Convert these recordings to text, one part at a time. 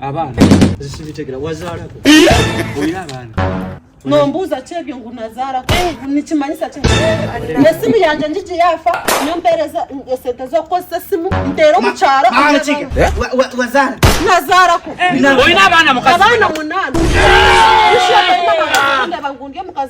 abaana zisibitegera wazaalako olina abaana nombuuza ki ebyo ngu nazaalako nikimanyisa ki esimu yange njiji yafa nyo mpeereza esente zokukozesa esimu nteera omukyalo wazaala nazaalako olina abaana mukazi abaana munaana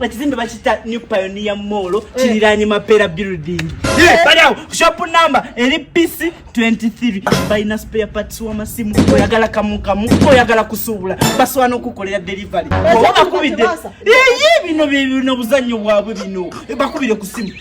ekizimbe bakita new pioneer mall kiriranye mapera building baliawo shop number eri pc 23 balina spare parts wamasimu oyagala kamukamu oyagala kusuubula basobola okukolera delivery oba bakubidde eye bino bino buzannyo bwabwe bino bakubire ku simu